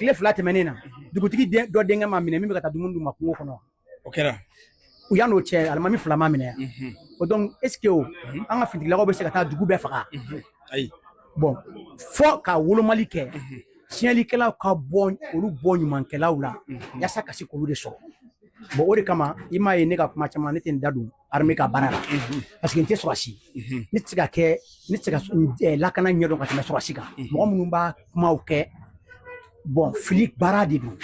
tile fila tɛmɛnen na dugutigi dɔ denkɛ ma minɛ min bɛ ka taa dumuni d'u ma kungo kɔnɔ o kɛra yan n'o cɛ alimami fila ma minɛ mhm. o donc est ce que o mhm. an ka finitigilakaw bɛ se ka taa dugu bɛɛ faga mhm. ayi bon fo ka wolomali kɛ tiɲɛlikɛlaw ka bɔ olu bɔ ɲumankɛlaw la yasa ka se k'olu de sɔrɔ bon o de kama i m'a ye ne ka kuma caman ne tɛ n da don armée ka baara la parce que n tɛ sɔrɔsi ne tɛ se ka kɛ ne tɛ se ka lakana ɲɛdɔn ka tɛmɛ sɔrɔsi kan mɔgɔ minnu b'a kumaw kɛ bon fili baara de don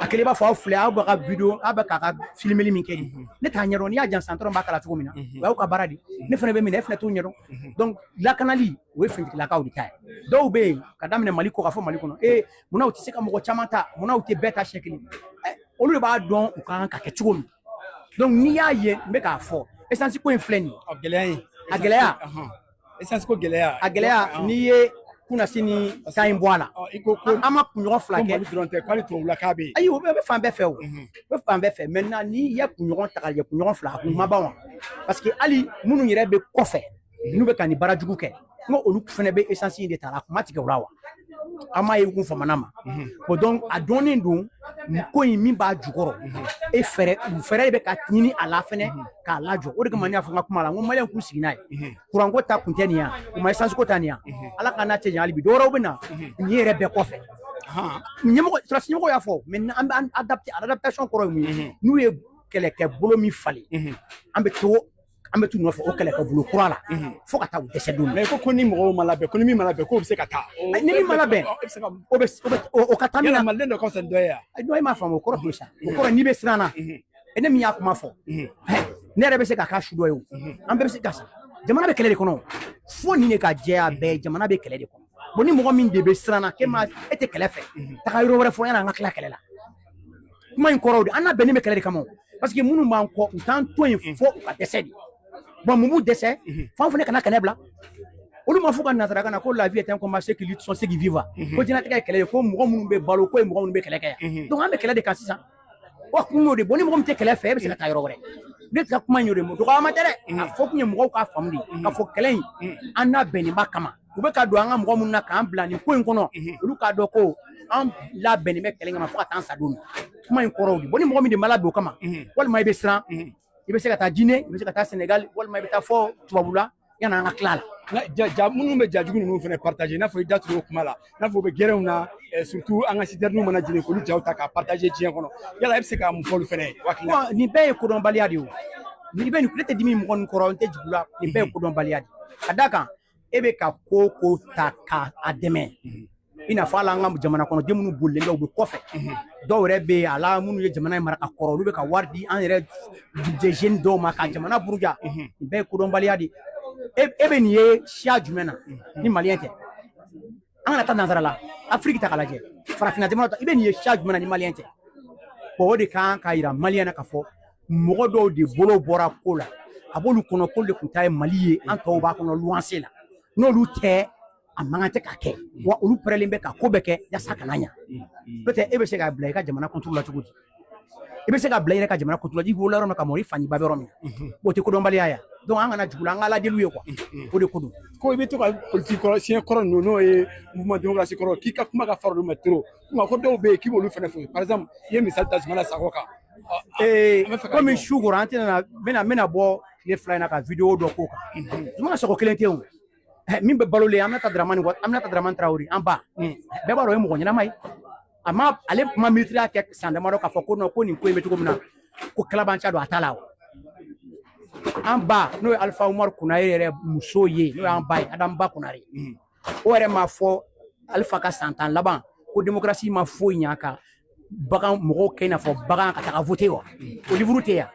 a kɛlen b'a fɔ aw filɛ aw bɛ ka video aw bɛ k'aw ka filimeli min kɛ nin ne t'a ɲɛdɔn n'i y'a jan san dɔrɔn b'a kala cogo min na o y'aw ka baara de ne fana bɛ min na e fana t'o ɲɛdɔn donc lakanali o ye finitigilakaw de ta ye dɔw bɛ yen k'a daminɛ mali kɔkan fo mali kɔnɔ ee munna u tɛ se ka mɔgɔ caman ta munna u tɛ bɛɛ ta siɲɛ kelen olu de b'a dɔn u ka kan ka kɛ cogo min donc n'i y'a ye n bɛ k'a fɔ essence ko in filɛ nin ye gɛlɛya in a gɛlɛya essence ko gɛlɛya a gɛlɛya n'i ye kunasini kan in bɔ a la an ma kunɲɔgɔn fila kɛ dɔrɔn tɛ k'ale tubabu la k'a bɛ yen ayi o bɛ fan bɛɛ fɛ o bɛ fan bɛɛ fɛ maintenant n'i ye kunɲɔgɔn ta ka kɛ kunɲɔgɔn fila a kun ma ban wa parce que hali minnu yɛrɛ bɛ kɔfɛ n'u bɛ ka nin baara jugu kɛ n ko olu fana bɛ essence in de ta a kun ma tigɛ o la wa an m'a ye u kun famana ma bon donc a dɔnnen don ko in min b'a jukɔrɔ e fɛɛrɛ fɛɛrɛ de bɛ ka ɲini a la fɛnɛ k'a lajɔ o de kama ne y'a fɔ n ka kuma la n ko maliyɛnw k'u sigi n'a ye kuranko ta kun tɛ nin yan u ma essence ko ta nin yan ala k'an n'a cɛ jan hali bi dɔwɛrɛw bɛ na nin yɛrɛ bɛɛ kɔfɛ ɲɛmɔgɔ sɔrɔsi ɲɛmɔgɔ y'a fɔ mais an bɛ adaptation kɔrɔ ye mun ye n'u ye kɛlɛkɛ bolo min falen an bɛ to an bɛ t'u nɔfɛ o kɛlɛkɛ bolo kura la fo ka taa u dɛsɛ don mais ko ko ni mɔgɔw ma labɛn ko ni min ma labɛn k'o bɛ se ka taa ni min ma labɛn o bɛ o ka taa min na maliden dɔ ka fisa dɔ ye yan dɔ e m'a faamu o kɔrɔ t'o sa o kɔrɔ n'i bɛ siran na e ne min y'a kuma fɔ ne yɛrɛ bɛ se ka k'a su dɔ ye o an bɛɛ bɛ se ka sa jamana bɛ kɛlɛ de kɔnɔ fo nin de ka jɛya bɛɛ jamana bɛ kɛlɛ de kɔnɔ bon ni mɔgɔ min de bɛ siran walima e tɛ kɛlɛ fɛ taga yɔrɔ wɛrɛ fɔ yanni an ka tila kɛlɛ la kuma in kɔrɔ o de an labɛnnen bɛ kɛlɛ de kama parce que minnu b'an kɔ u t'an to yen fo u ka dɛsɛ de bon mun b'u dɛsɛ f'an fana kana kɛlɛ bila olu ma fɔ ka nasarakan na ko la vie est un combat ceux qui luttent sont ceux qui vivent ko diɲɛlatigɛ ye kɛlɛ ye ko mɔgɔ minnu bɛ balo k'o ye mɔgɔ minnu bɛ kɛlɛ kɛ donc an bɛ kɛlɛ de kan sisan wa kun y'o de bon ni mɔgɔ min tɛ kɛlɛ fɛ e bɛ se ka taa yɔrɔ wɛrɛ ne ka kuma in y'o de ye dɔgɔyama tɛ dɛ a fɔ kun ye mɔgɔw k'a faamu de k'a fɔ kɛlɛ in an labɛnnen b'a kama u bɛ ka don an ka mɔgɔ minnu na k'an bila nin ko in kɔnɔ olu k'a dɔn ko an labɛnnen bɛ kɛlɛ kama fo ka taa an sa don kuma in kɔrɔ o de bon ni mɔgɔ min de ma labɛn o kama walima i bɛ siran i bɛ se ka taa Guinée i bɛ se ka taa Sénégal walima i bɛ taa fo tubabula yanni an ka tila a la ja ja minnu bɛ jajugu ninnu fana partager i n'a fɔ i da tun y'o kuma la i n'a fɔ u bɛ gɛrɛnw na surtout an ka sitɛriniw mana jeni k'olu jaw ta k'a partager diɲɛ kɔnɔ yala e bɛ se ka mun fɔ olu fana ye waati la nin bɛɛ ye kodɔnbaliya de ye o nin bɛɛ nin ne tɛ dimi mɔgɔ ninnu kɔrɔ n tɛ jigin u la nin bɛɛ ye kodɔnbaliya de ye ka d'a kan e bɛ ka ko o ko ta ka a dɛmɛ i n'a fɔ hali an ka jamana kɔnɔ den minnu bolilen bɛ u bɛ kɔfɛ dɔw yɛrɛ bɛ yen a la minnu ye jamana in mara ka kɔrɔ olu bɛ ka wari di an yɛrɛ jeunes dɔw ma ka jamana buruja nin bɛɛ ye kodɔnbaliya de ye e bɛ nin ye siya jumɛn na ni maliyɛn tɛ an kana taa nanzara la afiriki ta k'a lajɛ farafinna jamana ta i bɛ nin ye siya jumɛn na ni maliyɛn tɛ bon o de kan k'a yira maliyɛn na k'a fɔ mɔgɔ dɔw de bolo bɔra ko la a b'olu kɔnɔ k'olu de tun ta ye mali ye an tɔw b'a kɔnɔ luwanse la n'olu tɛ a mankan tɛ ka kɛ wa olu pɛrɛlen bɛ ka ko bɛɛ kɛ yasa kana ɲa n'o tɛ e bɛ se ka bila i ka jamana contre la cogo di i bɛ se ka bila i yɛrɛ ka jamana contre la i wolola yɔrɔ min ka mɔgɔ i fa n'i ba bɛ yɔrɔ min o tɛ kodɔnbaliya ye donc an kana jigin u la an ka ala deli u ye quoi o de ko don ko i bɛ to ka politiki kɔrɔ siɲɛ kɔrɔ ninnu n'o ye mouvement démocratie kɔrɔ k'i ka kuma ka farin olu ma trop nka ko dɔw bɛ yen k'i b'olu fana fo par exemple i ye misali ta Zumana Sakɔ kan komi su kora an tɛna n bɛna n bɛna bɔ tile fila in na ka video dɔ k'o kan Zumana Sakɔ kelen tɛ o min bɛ balolen aminata dramani aminata dramani tarawele an ba bɛɛ b'a dɔn o ye mɔgɔ ɲɛnama ye a ma ale tun ma minisiriya kɛ san damadɔ k'a fɔ ko ko nin ko in bɛ cogo min na ko kalabanca don a t'a la wa an ba n'o ye alifa umaru kunare yɛrɛ muso ye n'o y'an ba ye adamu ba kunare o yɛrɛ m'a fɔ alifa ka san tan laban ko demokarasi ma foyi ɲɛ a k'an bɛ ka mɔgɔw kɛ i n'a fɔ bagan ka taga vote wa o livuru tɛ yan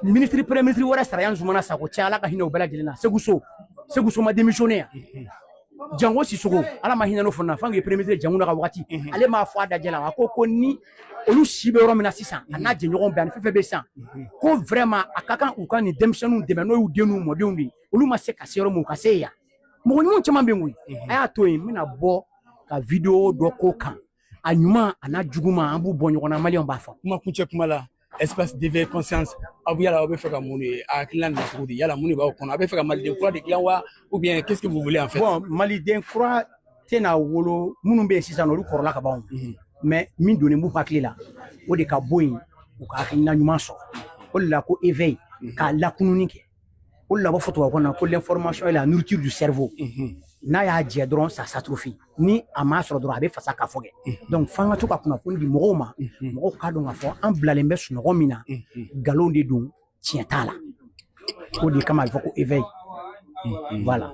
minisiri premier minisiri wɛrɛ sara yan zumana sakɔ tɛ ala ka hinɛ o bɛɛ lajɛlen na seku so seku so ma démissionner yan jango sisoko ala ma hinɛ n'o fana fan k'i premier minisiri jɔnkunda ka wagati ale m'a fɔ a dajɛ la a ko ko ni olu si bɛ yɔrɔ min na sisan a n'a jɛɲɔgɔn bɛɛ ani fɛn fɛn bɛ sisan ko vraiment a ka kan u ka nin denmisɛnninw dɛmɛ n'o y'u den n'u mɔdenw de ye olu ma se ka se yɔrɔ min u ka se yen mɔgɔ ɲuman caman bɛ yen koyi a y'a to yen n bɛna bɔ ka video dɔ k'o kan a ɲuman a n'a juguman an b'u bɔ ɲɔgɔn na maliyɛnw b'a fɔ kuma kuncɛ kuma la espace d'éveil conscience aw yala aw bɛ fɛ ka mun de a hakilina nana cogo di yala mun de b'aw kɔnɔ a bɛ fɛ ka maliden kura de dilan wa ou bien qu'est-ce que vous voulez en fait bon maliden kura tɛna wolo minnu bɛ yen sisan olu kɔrɔla ka ban mais min donnen b'u hakili la o de ka bɔ yen u ka hakilina ɲuman sɔrɔ o de la ko éveil ka lakununni kɛ o la u b'a fɔ tubabukan na ko l'information est la nourriture du cerveau mhm. n'a y'a jɛ dɔrɔn ça s'atrophie ni a m'a sɔrɔ dɔrɔn a bɛ fasa ka fɔ kɛ mhm. donc f'an ka to ka kunnafoni di mɔgɔw ma mhm. mɔgɔw k'a dɔn k'a fɔ an bilalen bɛ sunɔgɔ min na nkalon de don tiɲɛ t'a la o de kama a bɛ fɔ ko éveil voilà